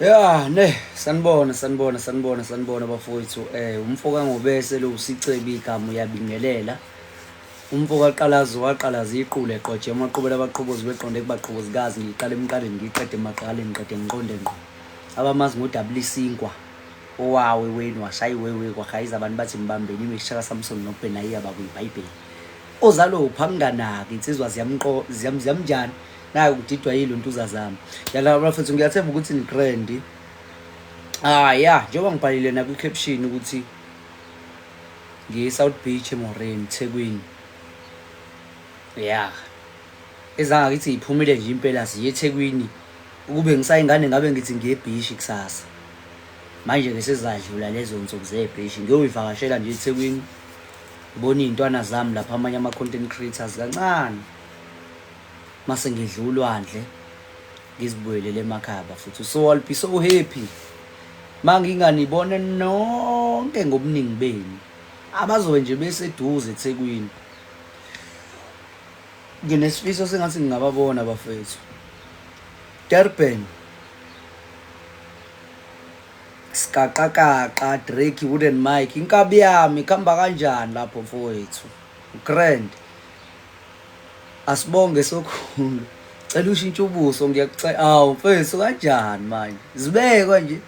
ya ne sanibona sanibona sanibona sanibona bafowethu eh umfo kangobese lo usicebi igama uyabingelela umfo kaqalazo waqalaza iqule eqoje amaqhubela abaqhobozi beqonde kubaqhobozikazi ngiqale emqaleni ngiqede emaqaleni ngiqede ngiqonde ngqo abamazi ngodabula isinkwa Owawe wenu washaya iwewe kwaGayiza abantu bathi mbambeni imixha kaSamson noBhenayiya bakwiBhayibheli. Ozalo uphi anginganaki insizwa ziyamqo ziyam ziyamnjani nayo kudidwa yiluntuza zami. Yala bafethu ngiyathemba ukuthi ni trendy. Ah yeah, njengoba ngibhalile nakwi caption ukuthi ngiye South Beach eMoreni Thekwini. Yeah. Ezanga ngithi iphumile nje impela siye eThekwini. Ukube ngisayingane ngabe ngithi ngiye eBhishi kusasa. Manje-ke sezadlula lezo nsuku zebheshi ngiyoyivakashela nje eThekwini ngibona iy'ntwana zami lapha amanye ama-content creators kancane mase ngidla ulwandle ngizibuyelele emakhaba futhi so i'll be so happy ma nginganibona nonke ngobuningi benu abazobe nje beseduze ethekwini Nginesifiso sengathi ngingababona bafethu. Durban. Skaqaqaqa Drake Wooden Mike inkabi yami kamba kanjani lapho mfowethu. Grand. Asibonge sokhulu. Cela ushintshe ubuso ngiyakucela. Awu mfethu kanjani manje? Zibekwa nje.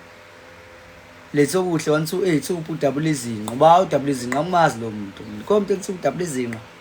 Letho kuhle 128 ubudabula izinqa. Ba udabula izinqa umazi lo muntu. Komntu ethi ubudabula izinqa.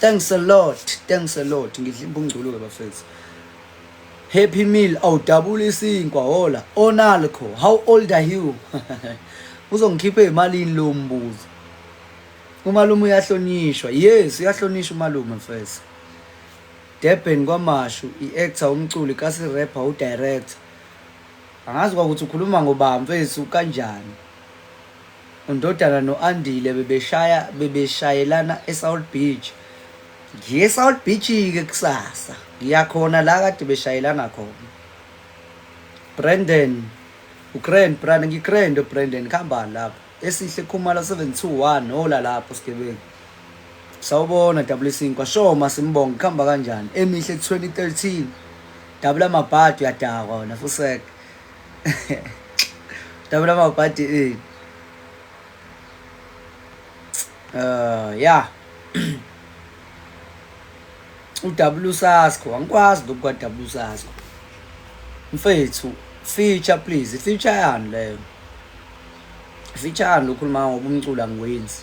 Thanks a lot. Thanks a lot. Ngidla imbungculu ke bafethu. Happy meal awudabula isinkwa hola. Onalco, how old are you? Uzongikhipha ezimalini lo mbuzo. Umalume uyahlonishwa. Yes, uyahlonishwa umalume mfethu. Durban kwamashu i-actor umculi kasi rapper udirector angazi kwakuthi ukhuluma ngobani mfethu kanjani UNdodana no-Andile bebeshaya bebeshayelana eSouth Beach. Ngiye eSouth Beach-ke kusasa. Ngiya khona la kade beshayelana khona. Brandon, uGrand, Brand, ngiGrand uBrandon kuhamba lapho. Esihle Khumalo 721 hola lapho sigebengu. Sawubona double isinkwa shoma simbonga kuhamba kanjani? Emihle 2013. Double amabhadi uyadakwa wena fusek. Tabula mawubhadi eh. Uh yeah. uW Sasko angikwazi lokhu kwa W Sasko. Mfethu feature please feature yani leyo. Feature yani lokhuluma ngoba umculo angiwenzi.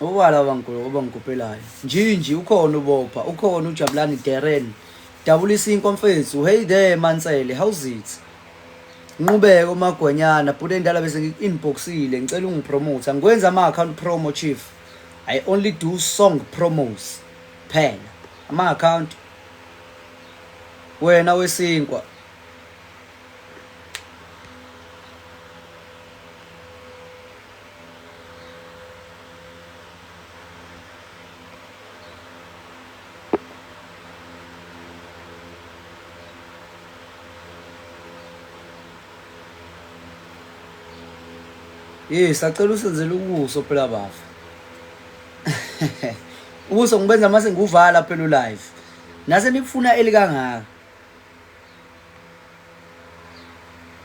Ubala obangikopelayo. Njinji ukhona ubopha, ukhona ujabulani Darren. Dabulisa inkwa mfethu. Hey there Mansele, how's it? Nqubeko magwanyana, bhuti endala bese ngi-inboxile, ngicela ungipromote. Angikwenza ama-account promo chief. I only do song promos. Phela ama-account wena wesinkwa Hey, sacela usenzele ubuso phela bafa. Ubuso ngibenza mase ngiwuvala phela ulive. Nase nikufuna elikangaka.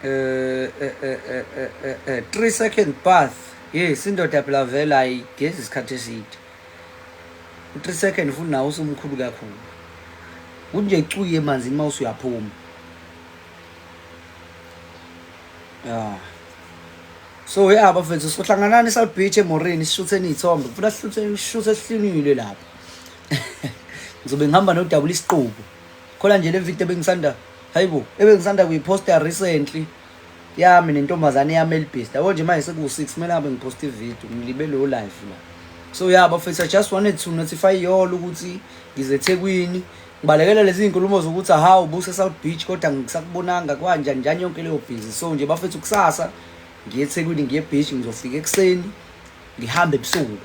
eh eh eh eh, eh, eh, eh 3 second path yes indoda phela vele ayigezi isikhathi eside 3 second futhi nawo usumkhulu kakhulu kunje cuye manzi uma usuyaphuma yeah so ya bafethu sohlanganani south beach emorini sishutheni iy'thombe ngifuna sishuthe sihlinilwe lapho ngizobe ngihamba nodabula isiqubu khona nje le video bengisanda hayibo ebengisanda kuyiposta recently yami nentombazane yami elibhizi yabo nje manje sekuwu-six kumele ngabe ngiphosta ivideo ngilibe lowo life la so ya bafethu i just wanted to notify yolo ukuthi ngizethekwini ngibalekela lezi nkulumo zokuthi aha ubuse south beach kodwa ngisakubonanga kwanjani njani yonke leyo busy so nje bafethu kusasa ngiye ethekwini ngiye beach ngizofika ekuseni ngihambe ebusuku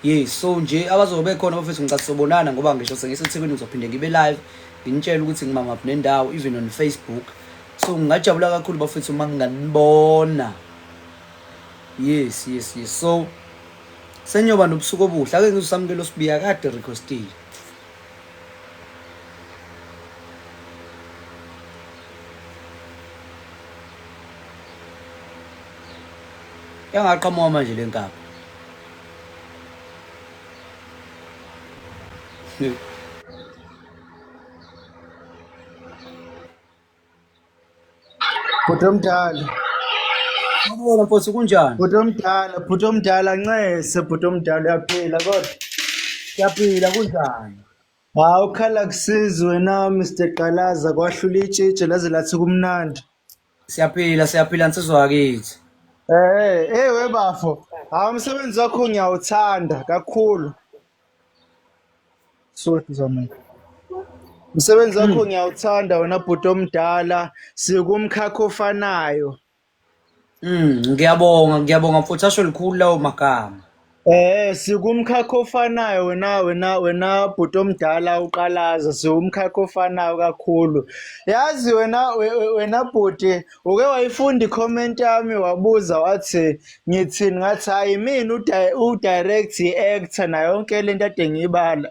Yes, so nje abazobe bekhona bafethu ngicela sobonana ngoba ngisho sengiseThekwini ngizophinde ngibe live nginitshele ukuthi ngimamaphi nendawo even on Facebook. So ngingajabula kakhulu bafethu uma nginganibona. Yes, yes, yes. So senyoba nobusuku obuhle ake ngizosamukela osibiya kade requestile. Yangaqhamuka manje lenkaba. bhuti omdala Sawubona mfowethu kunjani? bhuti omdala bhuti omdala ncese bhuti omdala uyaphila kodwa Siyaphila kunjani? hawu ukhala kusizi wena mr qalaza kwahlula itshitshe laze lathi kumnandi Siyaphila siyaphila nsizwa yakithi. Eh, hey we bafo. Hawu umsebenzi wakho ngiyawuthanda kakhulu. Soti zamani. Umsebenzi wakho ngiyawuthanda wena bhuti omdala sikumkhakha ofanayo. Mm, ngiyabonga ngiyabonga mfuthu asho likhulu lawo magama. Eh sikumkhakha ofanayo wena wena wena bhuti omdala uqalaza siwumkhakha ofanayo kakhulu. Yazi wena we- we- wena bhuti uke wayifunda i-comment yami wabuza wathi ngithini ngathi hayi mina uda- udirect i-actor nayo yonke lento ade ngiyibala.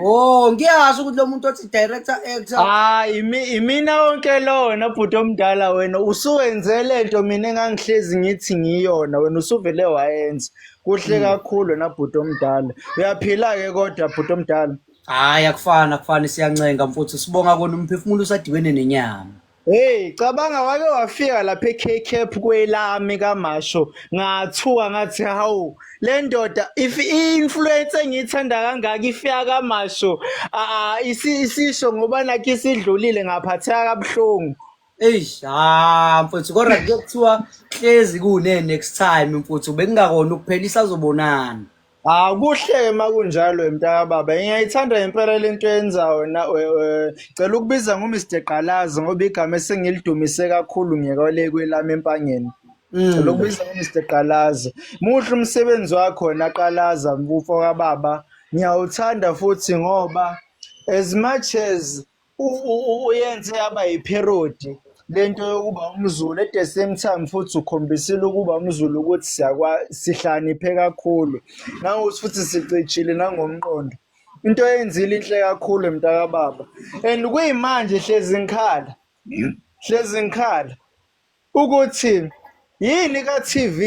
Oh, ngiyazi ukuthi lo muntu othi director actor ah imi imina wonke lona bhuti omdala wena usuwenze lento mina engangihlezi ngithi ngiyona wena usuvele wayenza kuhle hmm. kakhulu wena bhuti omdala uyaphila ke kodwa bhuti omdala hayi akufana akufani siyancenga mfuthu sibonga kona umphefumulo usadibene nenyama Hey cabanga wake wafika lapha eKCAP kwelami kaMasho ngathuka ngathi hawu le ndoda if i-influence engiyithanda kangaka ifika kaMasho ah isisho ngoba nakho isidlulile ngaphatheka kabuhlungu Eish ha mfuthu kodwa kuthiwa hlezi kune next time mfuthu bekungakona ukuphela isazobonana Hawu kuhle-ke uma kunjalo mntakababa. Ngiyayithanda ngempela le nto yenzayo wena. Cela ukubiza ngoMr Gqalazi ngoba igama esengilidumise kakhulu ngekole kwelami empangeni. Mm. Cela ukubiza ngoMr Gqalazi. Muhle umsebenzi wakho wena Qalaza mfo kababa. Ngiyawuthanda futhi ngoba as much as uyenze yaba yipherodi lento yokuba umzulu at the same time futhi ukhombisile ukuba umzulu ukuthi siyakwa sihlaniphe kakhulu nangokuthi futhi sicijile nangomqondo into eyenzile inhle kakhulu mntakababa and kuyimanje hlezi ngikhala hlezi ngikhala ukuthi yini ka-TV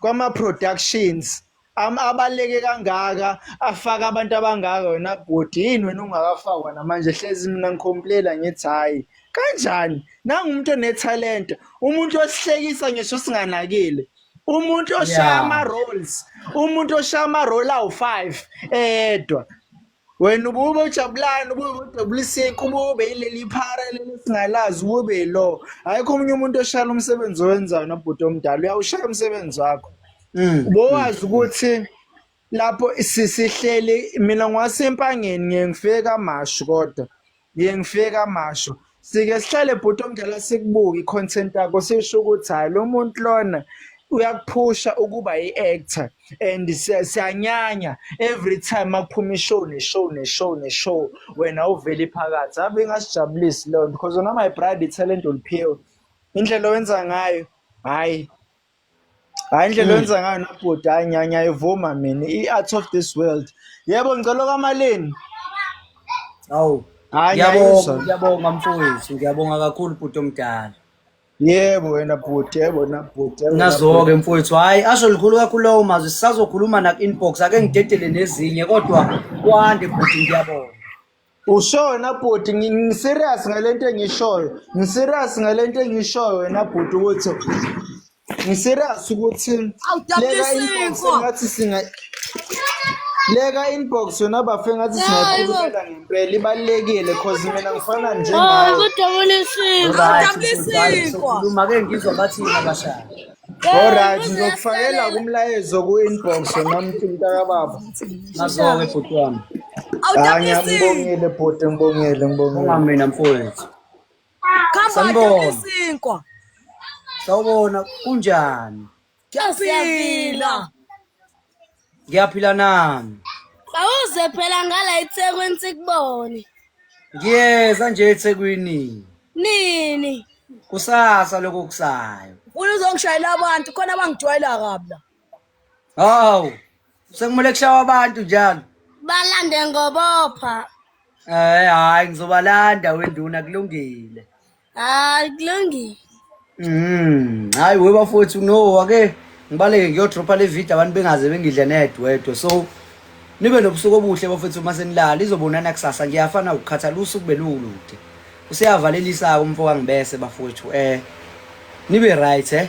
kwama-productions am- abaleke kangaka afaka abantu abangaka wena bhuti yini wena ungakafakwa namanje hlezi mina ngikhomplela ngithi hhayi kanjani nangu umuntu onethalente umuntu osihlekisa ngisho singanakile umuntu oshaya Yeah. ama-rolls umuntu oshaya ama-roll awu-five eyedwa wena ubube ujabulani ubube udebuliseki ubube yileli phara leli singalazi ubube yilo ayikho omunye umuntu oshayela umsebenzi owenzayo nobhuti omdala uyawushaya umsebenzi wakho Mm. bowazi ukuthi lapho sisihleli mina ngwasempangeni ngiyengifika kamashu kodwa Ngiye ngifike kamasho. Sike sihlale bhuti omdala sikubuke i-content yakho sisho ukuthi hayi lo muntu lona uyakuphusha ukuba yi-actor and siyanyanya every time makuphuma ishow neshow neshow neshow wena uvele phakathi ave ingasijabulisi leyo nto because wena my bride talent uliphiwe indlela owenza ngayo hhayi Hayi indlela oyenza ngayo nobhuti hayi ngiya- ngiyayivuma mina i-art of this world yebo ngicela okamalini Awu. hayi Ngiyabonga, ngiyayizwa ngiyabonga mfowethu, ngiyabonga kakhulu bhuti omdala. yebo wena bhuti yebo na bhuti yebo na Nazo-ke mfowethu, hhayi asho likhulu kakhulu lawo mazwi, sisazokhuluma naku-inbox, ake ngidedele nezinye kodwa kwande bhuti ngiyabonga. ushona bhuti ngiserious ngale nto engishoyo ngiserious ngale nto engishoyo wena bhuti ukuthi ngiserious ukuthi leka inbox ngathi singa leka inbox yona bafe ngathi singakhulumela ngempela ibalekile cause mina ngifana nje ngawe kodwa ulisiko kodwa ulisiko uma ke ngizwa bathi ngabashaya Alright, ngizokufakela kumlayezo ku-inbox nomthi mntakababa. Nazo-ke bhuti wami. Hayi, ngiyambongile bhuti, ngibongile, ngibongile. Uma mina mfowethu. Sanibona. Sawubona, kunjani? Siyaphila. ngiyaphila nami awuze phela ngala eThekwini sikubone ngiyeza nje eThekwini nini kusasa lokho kusayo ufuna uzongishayela abantu khona abangijwayela kabi la hawu sekumele kushawa abantu njalo balande ngobopha eh hayi ngizobalanda wenduna kulungile hayi kulungile Mm, hayi we bafowethu no ake ngibaleke ngiyodropha le video abantu bengaze bengidle nedwedwe so nibe nobusuku obuhle bafowethu uma senilala izobonana kusasa ngiyafana ukukhathala usuku belulude useyavalelisa umfo kangibese bafowethu eh nibe right eh